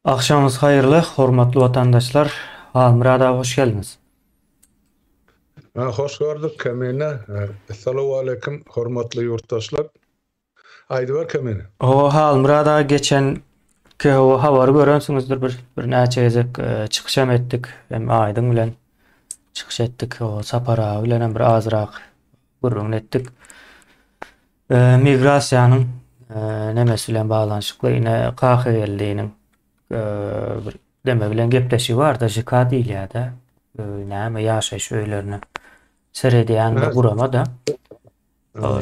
Agşamyňyz haýyrly, hormatly watandaşlar! Halmyrat aga, hoş geldiňiz! Hoş gördük, Kemine! Essalawaleýkim, hormatly ýurtdaşlar! Aýdyber, Kemine! Hawa, Halmyrat aga, geçen KHO habary görensiňizdir, bir, birnäçe gezek çykyş hem etdik, hem Aýdyň bilen çykyş etdik, Sapar aga bilen hem bir azrak gürrüňini etdik. E, migrasiýanyň e, nemesi bilen baglanyşykly ine Kahygeldiniň e, bir deme bilen gepleşigi bar-da, JK diýilýär-de. E, näme ýaşaýyş öýlerine seredýän bir gurama da.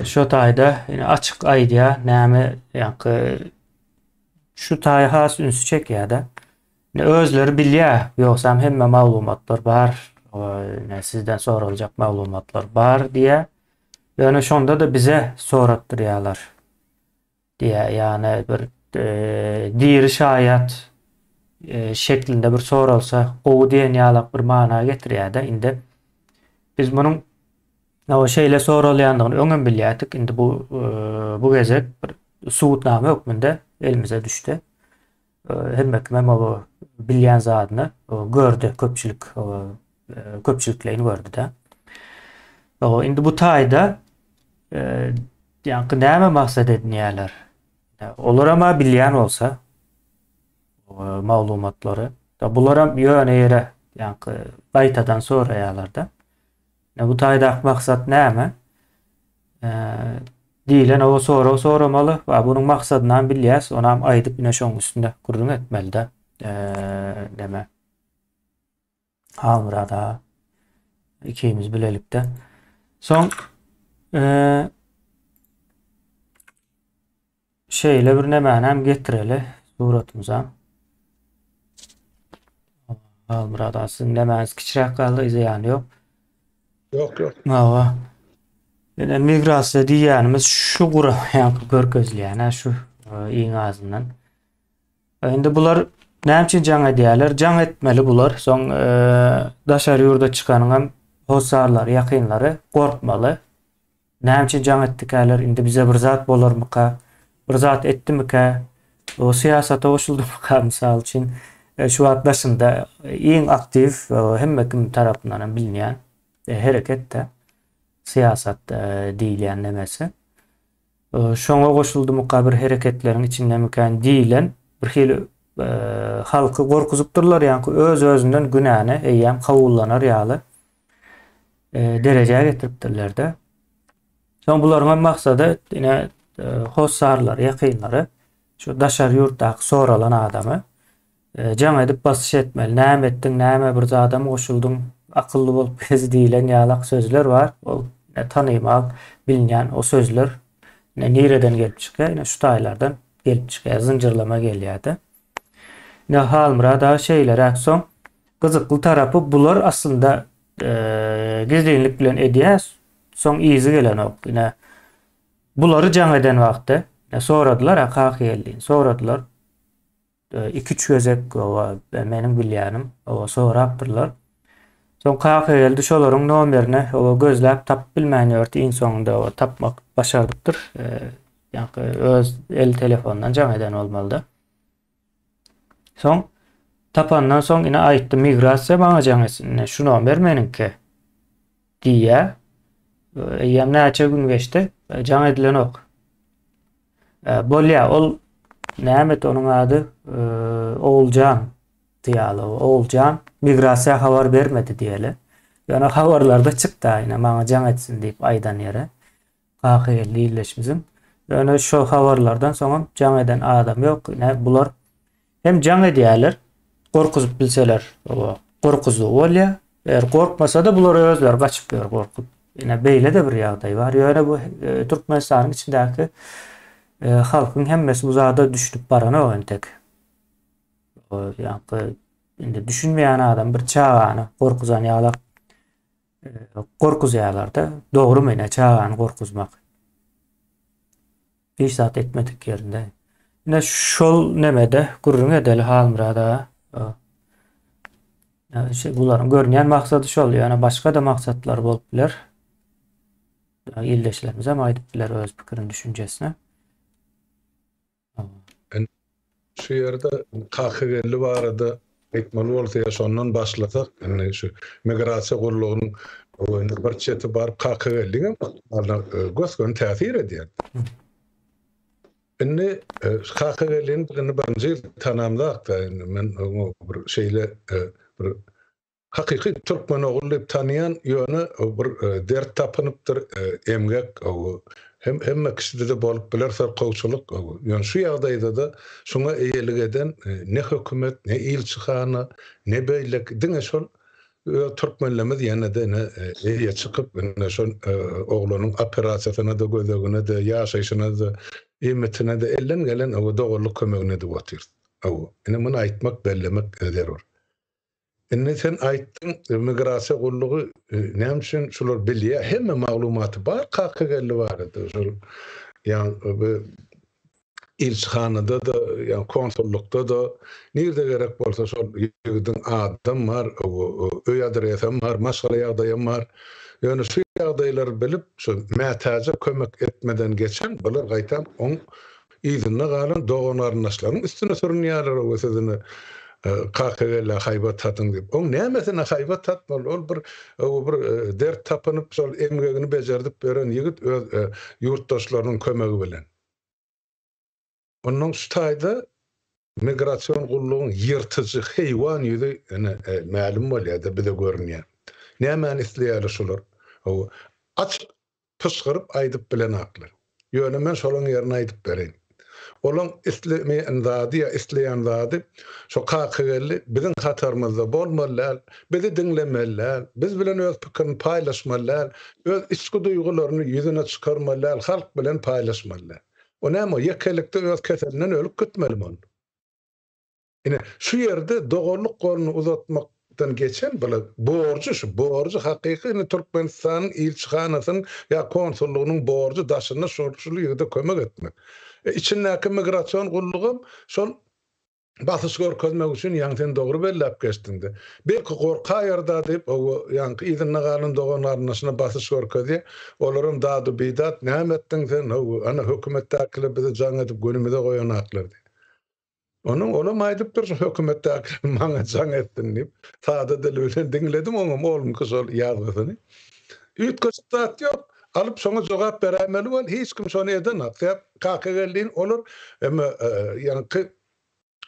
Şu taýda ine açyk aýdýar, näme ýaňky şu taý has ünsi çekýär-de. Ne özleri bilýär, ýogsam hemme maglumatlar bar, ne sizden soraljak maglumatlar bar diýýär. Ýöne şonda-da bize soratdyrýarlar, diýýär. Ýagny bir diri şaýat şeklinde bir soralsa gowy diýen ýalak bir mana getirýär-de. Indi biz munuň şeýle soralýandygyny öňem bilýärdik, indi bu bu gezek bir subutnama hökmünde elimize düşdi. Hemme kimem o bilýän zadyny gördi, köpçülik köpçülikleýin gördi-de. Indi bu taýda ýaňky näme maksat edinýärler? Olaram bilýän bolsa maglumatlary, bularam ýöne ýere ýaňky gaýtadan soraýarlar-da. Ine bu taýdaky maksat näme? diýlen o sorag soramaly we bunuň maksadyny hem bilýäs, ony hem aýdyp ine şoň üstünde gürrüň etmelide. Deme. Halmyrat aga ikimiz bilelikde. Soň Şeýle bir nämänäm getireli suratymyza. Halmyrat aga siziň nämäňiz kiçiräk galdy zyýany ýok. Ýok ýok. Hawa. Ýöne migrasiýa diýýänimiz şu guraýanky görkezilýän şu e, iň azyndan. E, indi bular näme üçin jaň edýärler? Jaň etmeli bular. Soň e, daşary ýurda çykanyňam hossarlary, ýakynlary gorkmaly. Näme üçin jaň etdikäler, indi bize bir zat bolarmyka, bir zat etdimikä, o syýasata goşuldymyka, mysal üçin, şu wagt daşynda iň aktiw, hemme kim tarapyndan hem bilinýän hereket-de syýasat diýilýän nemesi. Şoňa goşuldymyka, bir hereketleriň içindemikän diýlen bir hili halky gorkuzypdyrlar, ýaňky öz-özünden günäni eýýäm kabullanar ýaly e, derejä getiripdirler-de. Soň bularyň hem maksady ine e, hossarlar, ýakynlary şu daşary ýurtdaky soralan adamy e, jaň edip basyş etmeli. Näme etdiň, näme bir zadam goşuldyň, akylly bolup gez diýlen ýalak sözler bar. Ol e, tanymal, bilinýän o sözler nireden gelip çykýar? Ine şu taýlardan gelip çykýar, zynjyrlama gelýär-de. Ine Halmyrat aga şeýleräk soň gyzykly tarapy bular aslynda gizlinlik bilen edýä soň yzy gelenok ine bulary jaň eden wagty soradylar a kaka geldi soradylar iki üç gezek oba meniň bilýänim oba sorapdyrlar soň kaka geldi şolaryň nomerine oba gözläp tapyp bilmän ýördi iň soňunda oba tapmak başardypdyr Ýaňky öz el telefonyndan jaň eden bolmalyda. Soň tapandan soň ine aýtdy migrasiýa maňa jaň etsin. Ine şu nomer meniňki. Diýä. Eýýäm näçe gün geçdi? E, jaň edilenok. E, bolýa, ol näme et onuň ady? E, Oguljan diýýärler. Oguljan migrasiýa habar bermedi diýeli. Ýöne habarlarda çykdy ine maňa jaň etsin diýip aýdan ýere. Kaka geldi illeşimiziň. Ýöne şo habarlardan soňam jaň eden adam ýok. Ine bular hem jaň edýärler. Gorkuzyp bilseler oba gorkuzdygy bolýa. Eger gorkmasada bular özleri gaçyp ýör gorkup. Ine beýlede bir ýagdaý bar. Ýöne bu Türkmenistanyň içindäki halkyň hemmesi bu zada düşünip baranok entek. Ýa-da indi düşünmeýän adam bir çagany gorkuzan ýalak Gorkuzýarlarda dogry menä çagany gorkuzmak. Hiç zat etmedik ýerinde. Ine şol nemede gürrüň edeli Halmyrat aga. Ýa şe bularyň görünýän maksady şol, ýöne başga-da maksatlar bolup biler. Ildeşlerimiz hem aýdyp biler öz pikirini, düşünjesini. Şu ýerde Kakageldi barada aýtmaly bolsa ýa şondan başlasak, indi şu migrasiýa gullugynyň öňünde bir çeti bar, Kakageldiňem ykbalyna gös-göni täsir edýär. Indi Kakageldini birinji ýyl tanamzak-da, indi men oňa bir şeýle bir Hakyky türkmen ogul diýip tanaýan ýöne bir dert tapynypdyr emgek hem hemme kişidede bolup biler syrkawçylyk ýöne şu ýagdaýdada şuňa eýelik eden ne hökümet ne ilçihana ne beýleki diňe şol öz türkmenlemz ýenede ine eýe çykyp ine şol oglanyň operasiýasynada gözeginede ýaşaýşynada iýmitinede elden gelen doganlyk kömegini edip otyrys ine muny aýtmak bellemek zerur. Indi sen aýtdyň immigrasiýa gullugy näme üçin şular bilýä hemme maglumaty bar Kakageldi barada şol ýagny bu ilçihanada-da ýa konsullykda-da nirde gerek bolsa şol ýigidiň adam bar öý adresem bar maşgala ýagdaýam bar ýöne şu ýagdaýlary bilip şu mätäje kömek etmeden geçen bular gaýtam oň yzynda galan dogan-garyndaşlaryň üstüne sürünýärler we siz indi Kakagellä haýbat tatyň diýip. Oň nämesine haýbat tatmaly? Ol bir öe bir dert tapynyp, şol emgegini bejerdip beren ýigit öz ýurtdaşlarynyň kömegi bilen. Onnoň şu taýda migrasion gullugyň ýyrtyjy heýwan ýüzi ene mälim bolýar-da, bize görünýär. Nämäni isleýärler şular? Öe aç Pyşgyryp aýdyp bilenaklar. Ýöne men şolaň ýerini aýdyp bereýin. Olaň islemeýän zady ýa isleýän zady şo Kakageldi biziň hatarymyzda bolmaly däl, bizi diňlemeli däl, biz bilen öz pikirini paýlaşmaly däl, öz içki duýgularyny ýüzüne çykarmaly däl, halk bilen paýlaşmaly däl. O näme, ýekelikde öz keselinden ölüp gitmelimi ol? Ine, şu ýerde doganlyk goluny uzatmakdan geçen bile, borjy, şu borjy hakyky indi Türkmenistanyň ilçihanasynyň ýa konsullygynyň borjy daşynda şol, şul ýigide kömek etmek. E, içindäki migrasion gullugam şol basyş görkezmek üçin, ýaňy sen dogry belläp geçdiň-de. Belki gorkaýar-da diýip, owo, ýaňky yzynda galan dogan-garyndaşyna basyş görkezýär. Olaram dadu-bidat, Näme etdiň sen, owo, ana, hökümetdäkiler bizi jaň edip gönümize goýanaklar diýip. Onuň olam aýdypdyr şu hökümetdäkiler maňa jaň etsin diýip. Sada dili bilen diňledim oňam olmky şol ýazgysyny. Üýtgeşik zat ýok. Alyp şoňa jogap beräýmeli bol. Hiç kim şony edenok. Sebäp Kakageldin olar eme ýaňky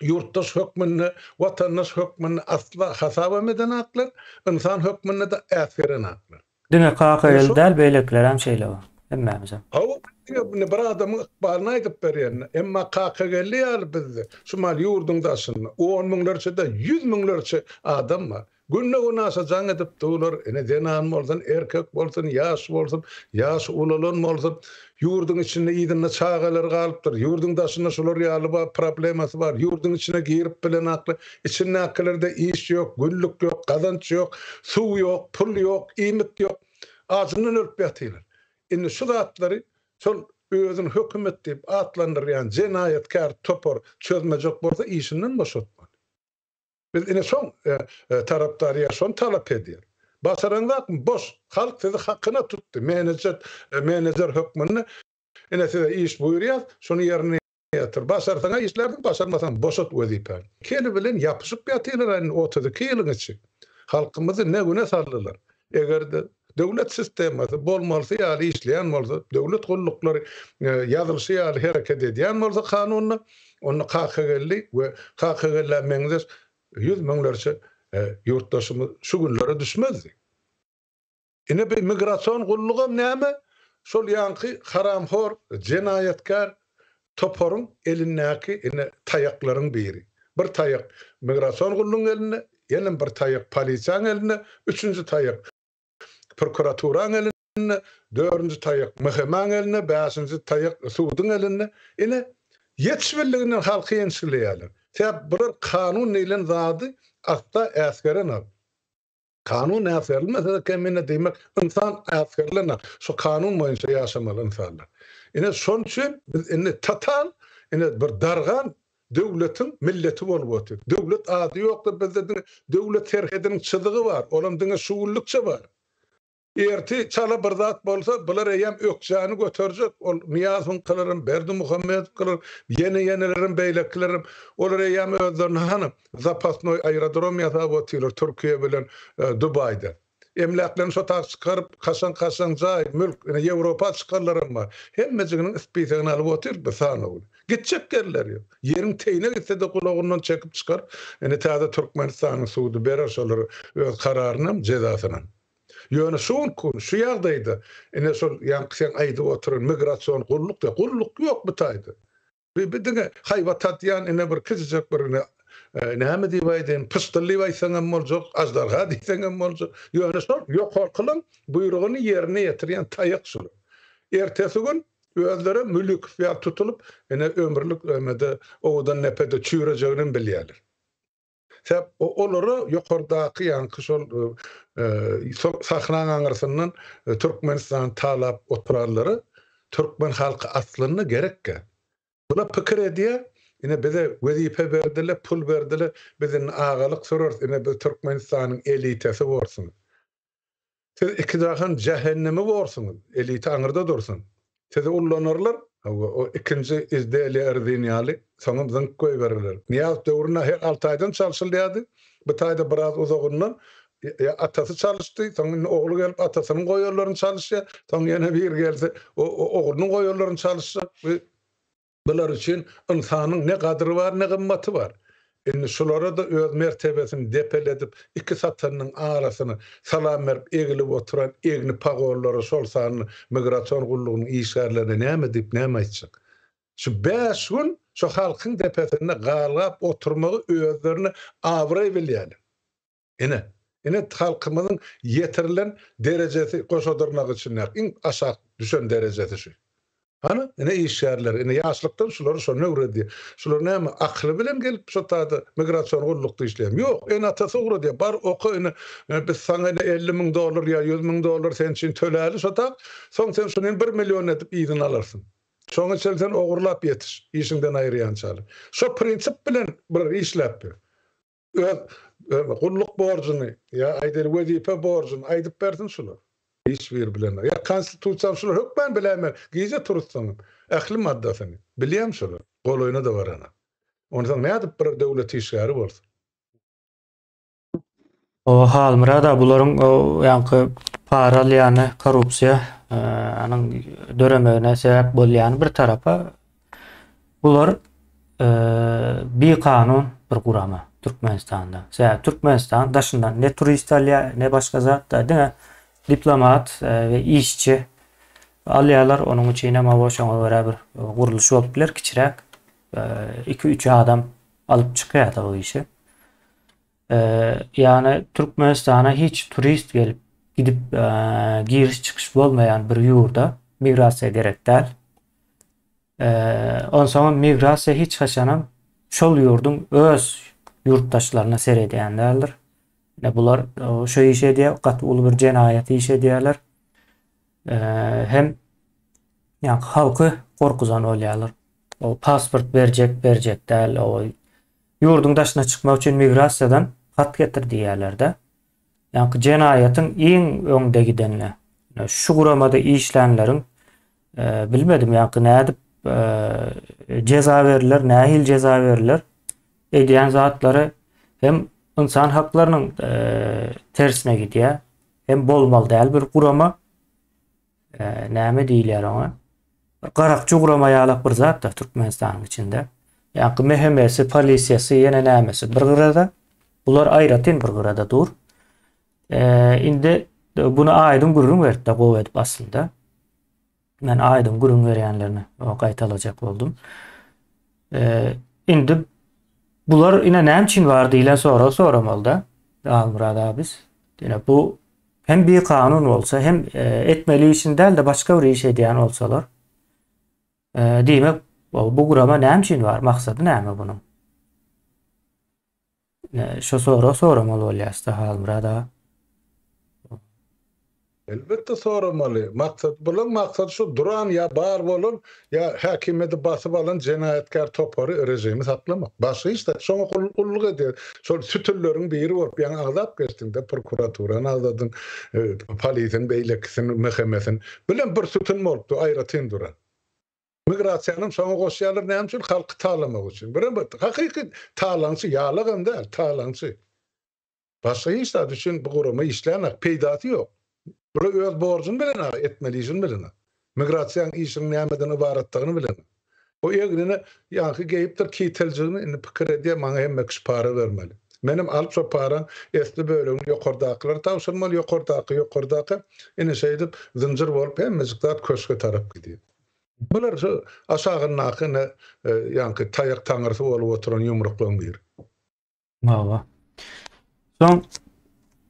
ýurtdaş hökmünde, watandaş hökmünde asla hasabam edenaklar, ynsan hökmünde-de äsgerenaklar. Diňe Kakaýyl däl beýlekilerem şeýle bar. Hemmämizem. Hawa diňe indi bir adamyň ykbalyny aýdyp berýändir. Emma Kakageldi ýaly bizde şu maly ýurduň daşynda on müňlerçe däl ýüz müňlerçe adam bar. Günde gün aşa jaň edip durlar. Ine zenan bolsun, erkek bolsun, ýaş bolsun, ýaşy ulalan bolsun. Ýurduň içinde yzynda çagalary galypdyr. Ýurduň daşynda şular ýaly bar problemasy bar. Ýurduň içine girip bilenakly içindäkilerde iş ýok, günlük ýok, gazanç ýok, suw ýok, pul ýok, iýmit ýok. Ajyndan ölüp ýatylar. Indi şu zatlary şol özüni hökümet diýip atlandyrýan jenaýatkär topar çözmejek bolsa işinden boşatmaly. Biz ine şoň tarapdary ýa şony talap edýär. Başaraňzakmy? Boş! Halk sizi hakyna tutdy, menejet, menejer hökmünde ine size iş buýurýas, şuny ýerine ýetir. Başarsaň-a işlärsiň, başarmasaň boşat wezipäni. Keli bilen ýapyşyp ýatylar indi otuz iki ýylyň içi. Halkymyzy ne güne saldylar. Eger-de döwlet sistemasy bolmalysy ýaly işleýän bolsa, döwlet gulluklary ýazylyşy ýaly hereket edýän bolsa kanunda, onda kakageldi we kakagelläe meňzeş ýüz müňlerçe ýurtdaşymyz şu günlere düşmezdi. Ine bu migrasion gullugam näme? Şol ýaňky haramhor, jenaýatkär Toparyň elindäki ine taýaklaryň biri. Bir taýak migrasion gullugyň elinde, ýene bir taýak polisiýaň elinde, üçünji taýak prokuraturaň elinde, dördünji taýak MHM-iň elinde, bäşinji taýak suduň elinde. Ine, ýetişmezliginden halky ençikleýärler. Sebäp bular kanun diýlen zady asla äsgerenok. Kanun äsgerilmese-de kemine diýmek, ynsan äsgerilenok. Şu kanun boýunça ýaşamaly ynsanlar. Ine, şon üçin biz indi total, ine, bir dargan döwletiň milleti bolup otyr. Döwlet ady ýokdur bizde diňe döwlet serhediniň çyzygy bar, olam diňe şu günlükçe bar. Ertir çala bir zat bolsa, bular eýýäm ökjäni göterjek. Ol Nyýazowyňkylaram, Berdimuhammedowkylar, ýene-ýenelerem, beýlekilerem. Olar eýýäm özlerine hany, zapasnoý aerodrom ýasap otyrlar Türkiýe bilen Dubaýda. Emläklerini şo tak çykaryp, kaşaň-kaşaň jaý, mülk, ine, Ýewropa çykanlaram bar. Hemmejiginiň spisegini alyp otyr biz, sanawuly. Gitjek ýerleri ýok. Ýeriň teýine gitse-de gulagyndan çekip çykaryp, indi täze Türkmenistanyň sudy berer şolara öz kararynam, jezasynam. Ýöne şu günki gün şu ýagdaýda ine şol ýaňky seň aýdyp oturan migrasion gulluk diýýär. Gulluk ýok bu taýda. Bu bu diňe haýbat tatýan ine bir kiçijek bir ine näme diýip aýdaýyn pyşdyl diýip aýtsaň hem boljak, aždarha diýseň hem boljak. Ýöne şol ýokarkylaň buýrugyny ýerine ýetirýän taýak şular. Ertesi gün özlerem Mülükow ýaly tutulyp ine ömürlik emede owadan depede çüýrejeginem bilýärler. Sebäp olara ýokardaky ýaňky şol sahnaň aňyrsyndan Türkmenistany talap oturanlara Türkmen halky aslynda gerekkä. Bular pikir edýär, ine bize wezipe berdiler, pul berdiler, biz indi agalyk süreris, ine biz Türkmenistanyň elitasy borsuň. Siz iki jahan jähennemi borsuňyz, eliti aňyrda dursun. Sizi ullanarlar, hawa, o ikinji izdeýlä Erzin ýaly, soňam zyňyp goýbererler. Nyýaz döwri nähek alty aýdan çalşylýardy. Bu taýda biraz uzagyndan ýa atasy çalyşdy, soň indi ogly gelip atasynyň goýanlaryny çalyşýar, soň ýene biri gelse, o oglunyň goýanlaryny çalyşjak. Bu Bular üçin ynsanyň ne gadyry bar, ne gymmaty bar. Indi şulara-da öz mertebesini depeledip, iki satanynyň arasyna salam berip egilip oturan egni pagollara, şol sanda migrasion gullugynyň işgärlerine näme diýip, näme aýtjak? Şu bäş gün şu halkyň depesinde galgap oturmagy özlerine abraý bilýärler. Ine, ine halkymyzyň ýetirilen derejesi Goşadyrnak içindäki iň aşak düşen derejesi şu. Hany, ine işgärler, ine ýaşlykdan şulary şony öwredýär. Şular näme, akyly bilen gelip şu taýda migrasion gullukda işleýärmi? Ýok, ene-atasy ugradýar, bar oka ine, biz saňa ine elli müň dollar ýa ýüz müň dollar sen üçin töläli şu tak, soň sen şuny hem bir million edip yzyny alarsyň. Şoňa çenli sen ogurlap ýetiş, işiňden aýyrýançaly. Şo prinsip bilen bular işläpdir. Öz gulluk borjuny ýa aýdaýly wezipe borjuny aýdyp bersin şular. Hiç biri bilenok. Ýa konstitusiýany şular hökman biläýmeli. Gije turuzsaňam ähli maddasyny bilýän şular. Golaýyna-da baranok. Onsoň nädip bir döwlet işgäri bolsun. Hawa Halmyrada bularyň o ýaňky para alýany korrupsiýa anyň döremegine sebäp bolýany bir tarapa Bular bir kanun bir gurama Türkmenistanda. Sebäbi Türkmenistan daşyndan ne turist alýar, ne başga zat da diňe diplomat we işçi alýarlar. Onuň üçin hem hawa şoňa görä bir gurluş bolup biler kiçiräk. 2-3 adam alyp çykýar da o işi. Ýagny Türkmenistana hiç turist gelip gidip giriş çykyş bolmaýan bir ýurda migrasiýa gerek däl. Onsoňam migrasiýa hiç haçanam şol ýurduň öz ýurtdaşlaryna seredýän däldir. Ine bular şu iş edýär, gaty uly bir jenaýat iş edýärler. Hem ýa halky gorkuzan bolýarlar. O pasport berjek, berjek däl, o Ýurduň daşyna çykmak üçin migrasiýadan hat getir diýýärler-de. Ýaňky jenaýatyň iň öňde gidenine, şu guramada işlänleriň, bilmedim, ýaňky nädip jeza berler, nähili jeza berler, edýän zatlary hem ynsan haklarynyň tersine gidýär, hem bolmaly däl bir gurama. Eee näme diýilýär oňa? Bir garakçy ugrama ýalak bir zat-da Türkmenistanyň içinde. Ýaňky MHM-si, polisiýasy, ýene nämesi bir gyrada. Bular aýratyn bir gyrada dur. Eee indi buny aýdyň gürrüň berip-de gowy edip aslynda. Men aýdyň gürrüň berýänlerini o gaýtalajak boldum. Eee indi bular ine näme üçin bar diýlen soragy soramaly-da Almyrat abys. Ýöne bu Hem bikanun bolsa hem etmeli işini dälde başga bir iş edýän bolsalar diýmek bu gurama näme üçin bar maksady näme bunuň? Şo sorag soramaly bolýasda Halmyrat aga. Elbetde soramaly. Maksat bulan maksat şu duran ýa bar bolan Ýa häkimiýeti basyp alan jenaýatkär topary režimi saklamak. Başga hiç-zat. Şoňa gulluk edýär. Şol sütünleriň biri bolup ýaňy agzap geçdiň-de, prokuraturany agzadyň, polisiň beýlekisini, MHM-sini. Bilen bir sütün bolupdy, aýratyn duran. Migrasiýanam şoňa goşýarlar, näme üçin? Halky talamak üçin. Birem hakyky talaňçy, ýalagam däl, talaňçy. Başga hiç zat üçin bu gurama işlänok, peýdasy ýok. Bula öz borjuň bilen aga, etmeli işiň bilen. Migrasiýaň işiň nämeden ybaratdygyny bilen. Bu egnine ýaňky geýipdir kiteljigini indi pikir edýär, maňa hemme kişi para bermeli. Menem alyp şo paraň esli bölegini ýokardakylara tabşyrmaly, ýokardaky, ýokardaky, ine şeýdip zynjyr bolup hemmejik zat köşge tarap gidýär. Bular şu aşagyndaky indi ýaňky taýak taňrysy bolup oturan ýumruklygyň biri. Hawa. Soň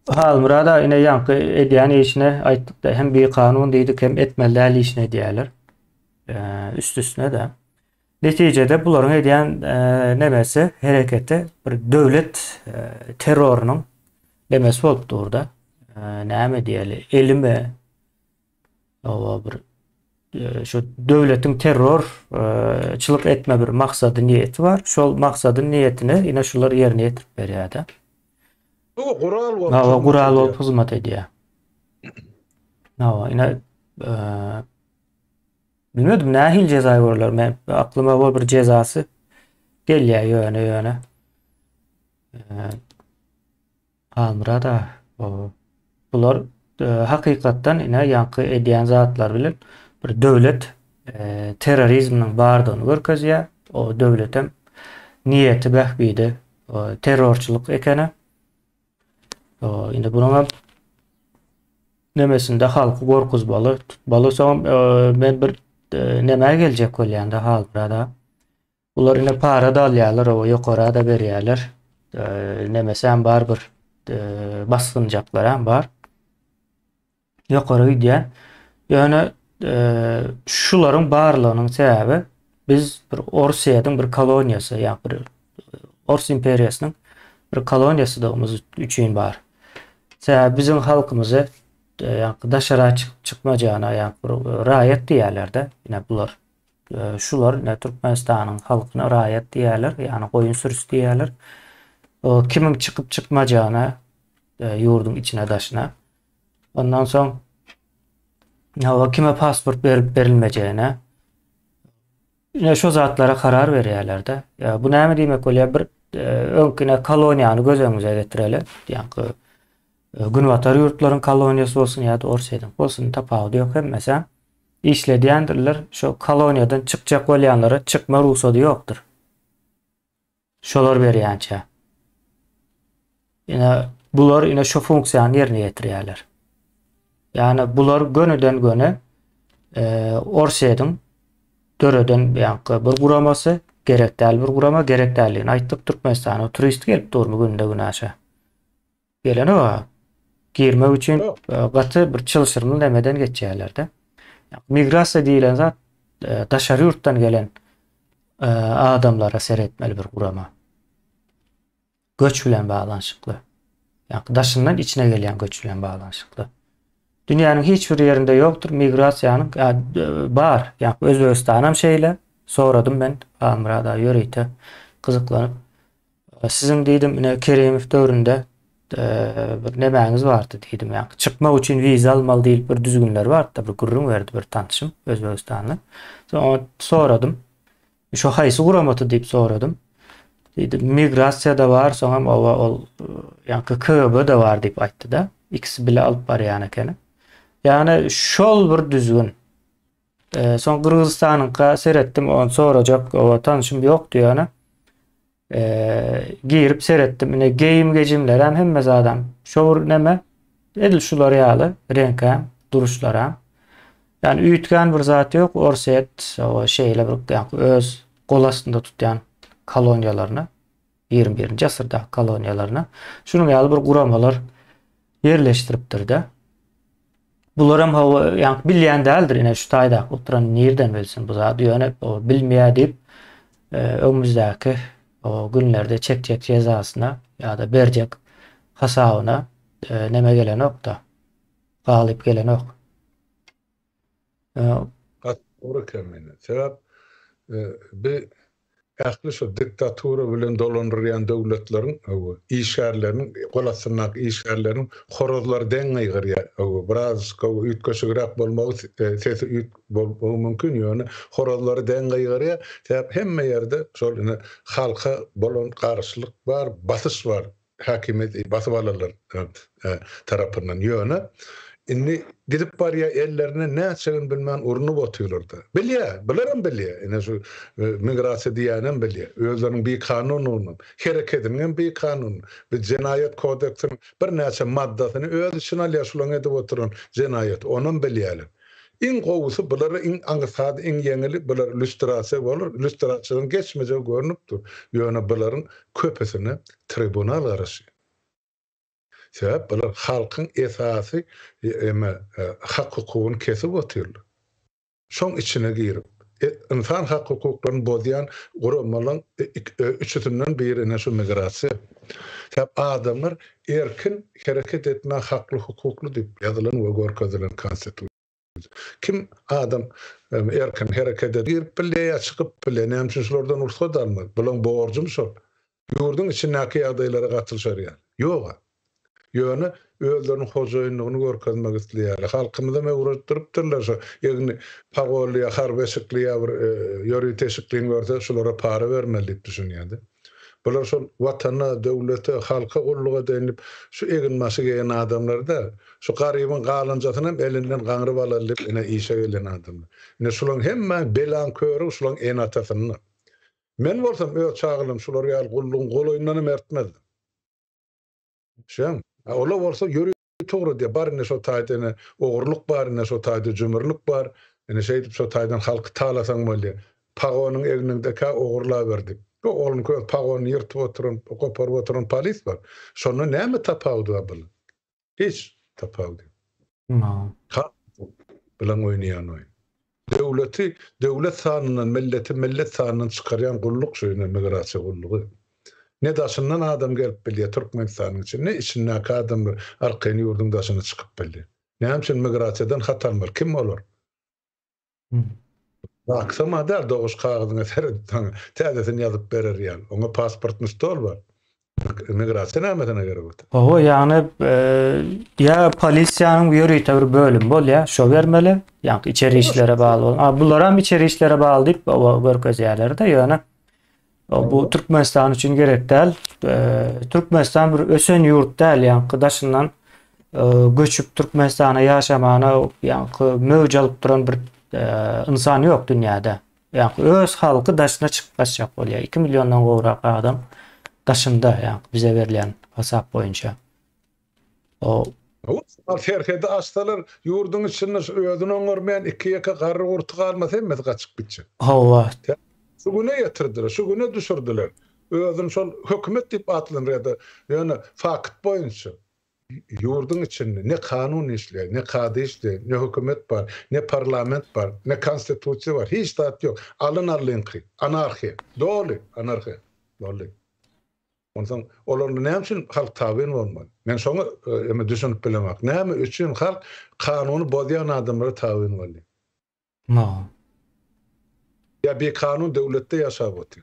Halmyrada ine ýaňky edýän işine aýtdykda hem bir kanun diýdik hem etmeli däl işini edýärler. Üst üstüne de. Netijede bularyň edýän nemesi hereketi bir döwlet terrorynyň nemesi bolup durda. Näme diýeli? Elime Hawa bir e, şu döwletiň terror e, çylyk etme bir maksady niýeti bar. Şol maksady niýetini ine şular ýerine ýetirip berýärdi. Bu gural bolup. Hawa gural bolup hyzmat edýär. Hawa ine e, bilmedim nähil jeza görler men aklyma bol bir jezasy gelýär ýöne ýöne. E, Hamyrat ah baba bular hakykatdan ine ýaňky edýän zatlary bilen bir döwlet terrorizminiň bardygyny görkezýär o döwletem niýeti bähbidi terrorçylyk ekeni indi bunuňam nemesinde halky gorkuzmaly tutmaly soňam men bir nämä geljek bolýanda Halmyrat ah. Bular ine para da alýarlar, owa ýokara da berýärler. Nemesem bar bir basgynjaklar hem bar. Ýokara gidýär. Ýöne şularyň barlygynyň sebäbi biz bir Orsiýadyň bir koloniýasy, ýa bir Ors imperiýasynyň bir koloniýasydygymyz üçin bar. Sebäbi biziň halkymyzy ýa daşara çykmajana ýa bir raýat diýýärler-de, ine bular. Şular ine Türkmenistanyň halkyna raýat diýýärler, ýagny goýun sürüsi diýýärler. Kimiň çykyp çykmajagyna ýurduň içine daşyna. Ondan soň hawa kime pasport berip berilmejegine. Ine şu zatlara karar berýärlerde. Ýa bu näme diýmek bolýar? Bir öňkine koloniýany göz öňümize getireli. Ýaňky günbatar ýurtlaryň koloniýasy bolsun ýa-da Orsýetiň bolsun tapawudy ýok hemmesi. Işledýändirler, şo koloniýadan çykjak bolýanlara çykma rugsady ýokdur. Şolar berýänçä. Ine, bular ine şo funksiýany ýerine ýetirýärler. Ýani bular gönüden göni e, Orsýetiň döreden ýaňky bir guramasy, gerek däl bir gurama, gerek däldigini aýtdyk. Türkmenistana turist gelip durmy günde günaşa. Geleni bar. Girmek üçin gaty bir çylşyrymly nämeden geçýärler-de. Migrasiýa diýilen zat daşary ýurtdan gelen adamlara seretmeli bir gurama. Göç bilen baglanyşykly. Ýa-da daşyndan içine gelýän göç bilen baglanyşykly. Dünýäniň hiç bir ýerinde ýokdur migrasiýanyň bar. Ýa Özbegistanam şeýle. Soradym men Halmyrada ýörite gyzyklanyp. Siziň diýdim, ine Keremow döwründe bir nemäňiz bardy diýdim. Ýa çykmak üçin wiza almaly diýip bir düzgünler bardy, bir gürrüň berdi bir tanşym Özbegistanly. Soň soradym. Şu haýsy guramaty diýip soradym. Diýdi, migrasiýada bar, soňam owa ol ýa-da KGB-de bar diýip aýtdy-da. Ikisi bile alyp barýan ekeni. Ýagny şol bir düzgün. Soň Gyrgyzystanyňka seretdim, ony sorajak oba tanşym ýokdy ýöne. Girip seretdim. Ine geýim gejimler hem hemme zadam. Şowur neme? Edil şular ýaly reňke, duruşlara. Yani üýtgän bir zat ýok. Orset, oba şeýle bir öz gol astynda tutýan koloniýalaryny. ýigrimi birinji asyrdaky koloniýalaryna şunuň ýaly bir guramalar ýerleşdiripdir-de. Bular hem hawa, ýaňky bilýän däldir, ine şu taýdaky oturan nirden bilsin bu zady, ýöne o bilmeýär diýip, e, öňümizdäki o günlerde çekjek jezasyna ýa-da berjek hasabyna e, näme gelenok-da. Galyp gelenok. E, Gat, ora kemine. Sebäp, e, bi Ähli şu diktatura bilen dolandyrýan döwletleriň, hawa, işgärleriniň, gol astyndaky işgärleriniň horazlary deň gygyrýar. Hawa, biraz, hawa, üýtgeşigräk bolmagy, sesi üýt bolmagy mümkin, ýöne horazlary deň gygyrýar. Sebäp hemme ýerde şol ine halka bolan garşylyk bar, basyş bar. Häkimiýet basyp alanlar tarapyndan ýöne indi gidip barýar ellerine näçegini bilmän urnup otyrlarda. Bilýär, bularem bilýär, ine şu migrasiýa diýýänem bilýär. Özleriniň bikanunynam, hereketiniňem bikanun. Biz jenaýat kodeksiniň birnäçe maddasyny öz içine alýar şulaň edip oturan jenaýat, onam bilýärler. Iň gowusy bulara iň aňsady iň ýeňili bular lýustrasiýa bolar lýustrasiýadan geçmejegi görnüp dur ýöne bularyň köpüsine tribunal garaşýar sebäp bular halkyň esasy eme hak hukugyny kesip otyrlar şoň içine girip ynsan hak hukuklaryny bozýan guramalaň üçüsinden biri ene şu migrasiýa sebäp adamlar Erkin hereket etmä hakly hukukly diyip yazylan we görkezilen konstitusiýa. Kim adam erkin hereket ed. Girip bile ya çykyp bile näme üçin şulardan rugsat almaz bulaň borjumy şol yurduň içindaki yagdaylara gatylşar yaly yoga yöne özleriniň hojaýynlygyny görkezmek isleýärler halkymyzam öwredipdiripdirler şu egni pagolly ya harby eşikli ya bir yörit eşikliň görse şulara para bermeli diyip düşünýärdi. Bular şol Watana, döwlete, halka gulluk edeýin diýip, şu eginbaşy geýen adamlar däl. Şu garybyň galanjasynam elinden gaňryp alaýyn diýip, ine, işe gelýän adamlar. Ine, şulaň hemmäň belaň körügi şulaň ene-atasynda. Men bolsam, öz çagalygym şular ýaly gullugyň golaýyndanam ärtmezdim. Düşýäňmi? Olar bolsa ýörite. Togry diýýär, bar indi şo taýda ene ogurlyk bar, ine şo taýda jümürlik bar, ine şeýdip şo taýdan halky talasaň bolýa. Pagonyň egniňdekä ogurlaber diýip. Ýok ogluňky öz pagonyny ýyrtyp oturan, goparyp oturan polis bar. Şonda näme tapawudy bar bulan? Hiç tapawudy ýok. Halk bilen oýnaýan oýun. Döwleti döwlet sanyndan, milleti millet sanyndan çykarýan gulluk şu ine migrasiýa gullugy. Ne daşyndan adam gelip bilýär Türkmenistanyň içine, ne içindäki adamlar arkaýyn ýurduň daşyna çykyp bilýär. Näme üçin migrasiýadan hat almaly? Kim olar? Aksama däl, doguş kagyzyňa seredip, saňa täzesini ýazyp berer ýaly. Oňa pasportny stol bar. Migrasiýa nämesin eger bolsa? Hawa, ýagny ýa polisiýanyň ýörite bir bölümi bolýar, şo bermeli, ýagny içeri işlere bagly bolan. A bularam içeri işlere bagly diýip görkezýärler-de, ýöne bu Türkmenistan üçin gerek däl. Türkmenistan bir ösen ýurt däl, ýagny daşyndan göçüp Türkmenistana ýaşamana ýagny möwç alyp duran bir insan ýok dünýäde. Ýagny öz halky daşyna çykyp gaçjak bolýar. Iki milliondan gowrak adam daşynda ýagny bize berlen hasap boýunça. O. Ruslar serhedi açsalar ýurduň içinde şu özüni oňarmaýan iki-ýeke garry-gurty galmasa hemmesi gaçyp gitjek. Hawa. Şu güne ýetirdiler, şu güne düşürdiler. Özüni şol hökümet diýip atlandyrýar-da, ýöne fakt boýunça. Ýurduň içinde ne kanun işleýär, ne kady işleýär, ne hökümet bar, ne parlament bar, ne konstitusiýa bar, hiç zat ýok. Alyn alynky, anarhiýa. Doly anarhiýa. Doly. Onsoň olarda näme üçin halk tabyn bolmaly? Men şoňa düşünip bilemok. Näme üçin halk kanuny bozýan adamlara tabyn bolýar? No. Ýa bikanun döwletde ýaşap otyr.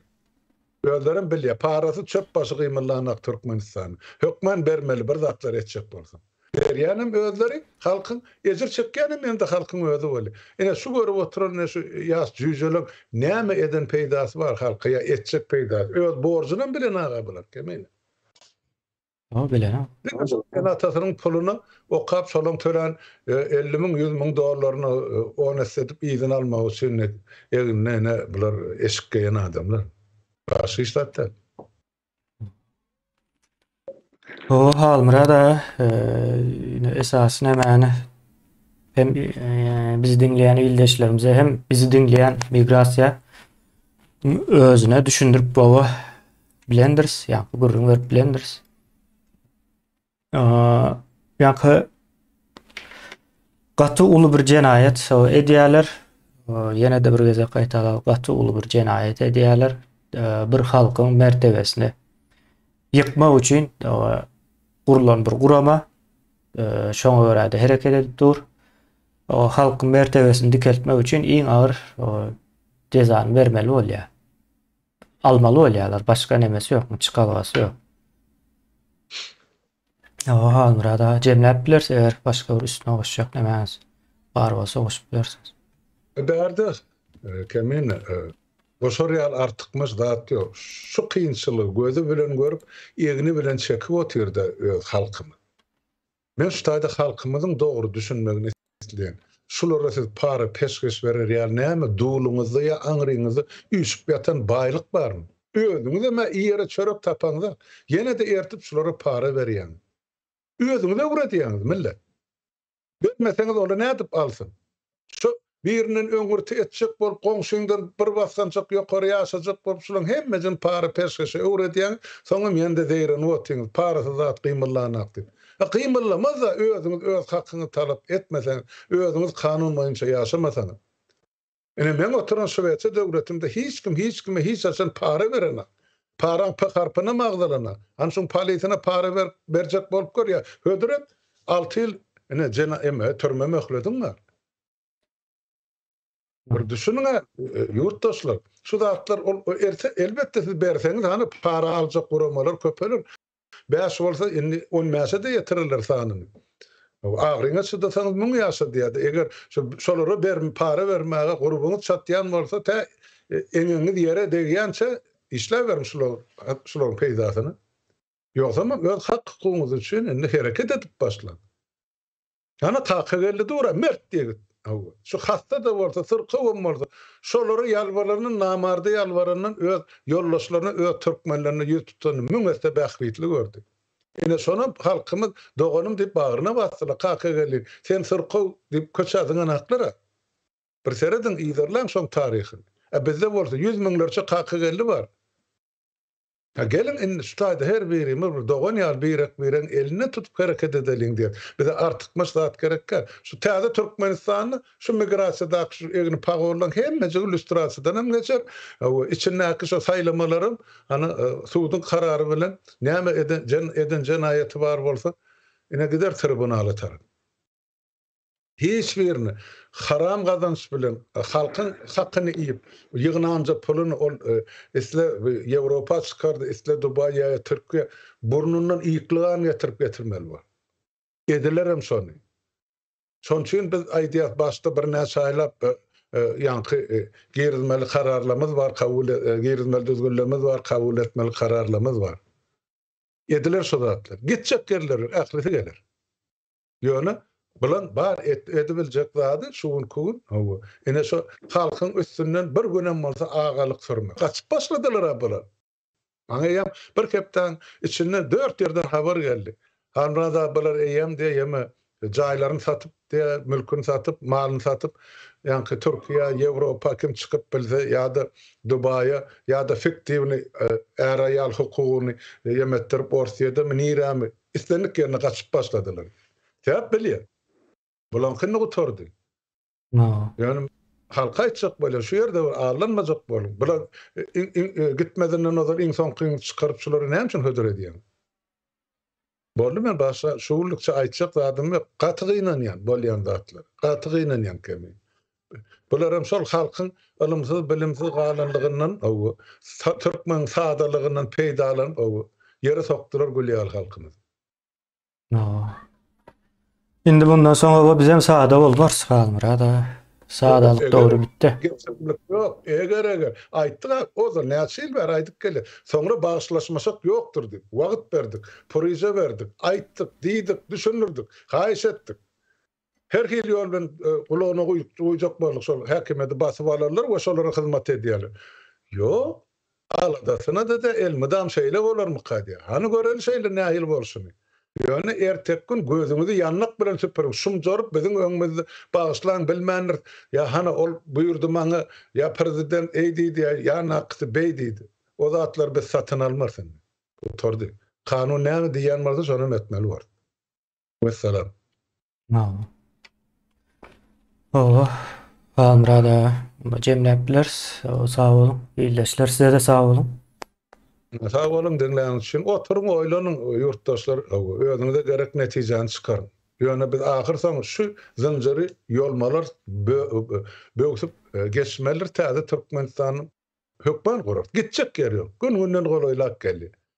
Özlerem bilýä parasy çöp başy gymyllanak Türkmenistany. Hökman bermeli bir zatlar etjek bolsaň. Berýänem özleri halkyň ejir çekýänem ýene-de halkyň özi weli. Ine şu görüp oturan ine şu ýaş jüýjeleriň näme eden peýdasy bar halka ýa etjek peýdasy. Öz borjunam bilen aga bular kemine. Sag gelen a. Diňe şol diýen atasynyň puluny okap şolaň tölen elli müň ýüz müň dollaryny on esse edip yzyna almak üçin egnine ine bular eşik geýen adamlar. Başga hiç zat däl. Hoo Halmyrat aga ine esasy nämäni hem bizi diňleýän ildeşlerimize hem bizi diňleýän migrasiýa özüne düşündirip gowy Blenders, ya bu gürrüň berip Blenders. Aa, yankı gaty uly bir jenaýat so edýärler. Ýene de bir gezek gaýtalap gaty uly bir jenaýat edýärler. Bir halkyň mertebesini ýykmak üçin gurlan bir gurama şoňa görä de hereket edip dur. O halkyň mertebesini dikeltmek üçin iň agyr cezany bermeli bolýar. Almaly bolýarlar başga nemesi ýokmy çykabasy ýok. Hawa Halmyrat aga jemläp bilersiň eger başga bir üstüne goşjak nemäňiz bar bolsa goşup bilersiňiz. Bärde Kemin goşar ýaly artykmaç zat ýok. Şu kynçylygy gözi bilen görüp egni bilen çekip otyrda öz halkymyz. Men şu taýda halkymyzyň dogry düşünmegini isleýän. Şulara siz para peşgeş berer ýaly näme dulyňyzda ýa aňryňyzda üýşüp ýatan baýlyk barmy? Özüňizem ä iýere çörek tapaňda ýene-de ertip şulara para berýäňiz. Özüňiz öwredýäňiz millet. Bermeseňiz onda nädip alsyn? Şu birinden öňürti etjek bolup goňşyňdan bir basgançak ýokary ýaşajak bolup şulaň hemmesini para peşgeşe öwredýäňiz soňam ýene-de zeýrenip otyňyz parasyz zat gymyldanak diýip. A gymyllamazda özüňiz öz hakyňyzy talap etmeseňiz özüňiz kanun boýunça ýaşamasaňyz. Ine meň oturan şwetsiýa döwletimde hiç kim hiç kime hiç haçan para berenak. Paraň P harpynam agzalana, an şuň palisyna para berip berjek bolup görýä. Hödüret, alty ýyl ine jena eme türme möhlediň bar. Bir düşüniň-ä, ýurtdaşlar, şu zatlar ol erte elbetde siz berseňiz hany para aljak guramalar köpeler. Bäş bolsa, indi on bäşe-de ýetiriler sanyn. Agyryňa çydasaňyz müň ýaşa diýýärdi. Eger şolara berme, para bermäge gurbuňyz çatýan bolsa, tä eňegiňiz ýere degýänçä işläberiň şularyň peýdasyna. Ýogsam öz hak-hukugyňyz üçin indi hereket edip başlaň. Ana Kakageldi dur-a, mert ýigit! Hawa, şu hassa-da bolsa, syrkawam bolsa, şolara ýalbarandan, namarda ýalbarandan öz ýoldaşlaryna, öz türkmenlerine ýüz tutany müň esse bähbitli gördi. Ine, şonam halkymyz doganym diýip bagryna basdylar. Kakageldi, sen syrkaw diýip köçä zyňan haklar-a? Bir serediň, yzarlaň şoň taryhyny. Ä bizde bolsa ýüz müňlerçe Kakageldi bar. Hä, geliň, indi şu taýda her birimiz bir dogan ýaly birek-biregiň elinden tutup hereket edeliň diýer. Bize artykmaç zat gerekkä? Şu täze Türkmenistanda şu migrasiýadaky şu egni pagorlaň hemmejigi lýustrasiýadan hem geçer we içindäki şu saýlamalaram, hany, suduň karary bilen näme eden, eden jenaýaty bar bolsa, ine gider tribunala tarap. Hiç birini haram gazanç bilen halkyň hakyny iýip ýygnanja puluny ol isle Ýewropa çykardy isle Dubaý ýa-da Türkiýe burnundan ýyklygan getirip getirmeli bor. Edilerem şony. Şon üçin biz aýdýas başda birnäçe aýlap ýaňky girizmeli kararlamyz bar kabul girizmeli düzgünlemz bar kabul etmeli kararlamyz bar. Ediler şu zatlar. Gitjek ýerleri ählisi geler. Ýöne bulan bar edibiljek zady şu günki gün hawa ine şo halkyň üstünden bir günem bolsa agalyk sürmek. Gaçyp başladylara bular. Maňa eýýäm bir hepdäň içinde dört ýerden habar geldi. Halmyrat aga bular eýýäm diýe ýeme jaýlaryny satyp diýe mülküni satyp malyny satyp ýaňky Türkiýä Ýewropa kim çykyp bilse ýa-da Dubaýa ýa-da fiktiwny är-aýal hukugyny ýemetdirip Orsýedemi nirämi Islendik ýerine gaçyp başladylar. Sebäp belli. Bularyňky indi gutardy. Ýöne halka aýtjak bolýan, şu ýerde bir aldanmajak boluň. Bular gitmezinden ozal iň soňkyňy çykaryp şulary näme üçin hödür edýäň? Boldy men başga şugundykça aýtjak zadym ýok. Gaty gynanýan bolýan zatlara. Gaty gynanýan kemi. Bularam şol halkyň ylymsyz-bilimsiz galanlygyndan ow, türkmeniň sadalygyndan peýdalanyp ow, ýere sokdular gül ýaly halkymyzy. Ow. Indi mundan soň ow bizem sada bolmarys Halmyrat aga. Sadalyk dowry bitdi. Geplemlik ýok. Eger eger. Aýtdyk a, ozal näçe ýyl bäri aýdyp gelýär. Soňra bagyşlaşmasak ýokdur diýip, wagt berdik, puryja berdik, aýtdyk, diýdik, düşündirdik, haýyş etdik. Her hili ýol bilen gulagyna guýjak boldy, şol häkimiýeti basyp alarlar we şolara hyzmat edýärler. Ýok, aladasyna-da-da elmydam şeýle bolarmyka diýýär. Hany göreli şeýle nähili bolşuny. Ýöne erteki gün gözüňizi ýanmak bilen süpüriň, şumjaryp biziň öňümizde bagyşlaň bilmändiris, ýa hany ol buýurdy maňa, ýa prezident eý diýdi, ýa nakysy beý diýdi. O zatlary biz satyn almarys indi. Gutardy. Kanun näme diýýän bolsa şonam etmeli borys. Wessalam. Naw. Oho. Halmyrat aga. Onda jemläp bileris. Sag boluň. Ildeşler size-de sag boluň. Sag boluň diňläniňiz üçin. Oturyň oýlanyň ýurtdaşlar. Özüňize gerek netijäni çykaryň. Ýöne biz ahyrsoňy şu zynjyry ýolmalar böwsüp geçmelidir täze Türkmenistanyň. Hökman gurar. Gitjek ýeri ýok. Gün-günden golaýlap gelýär.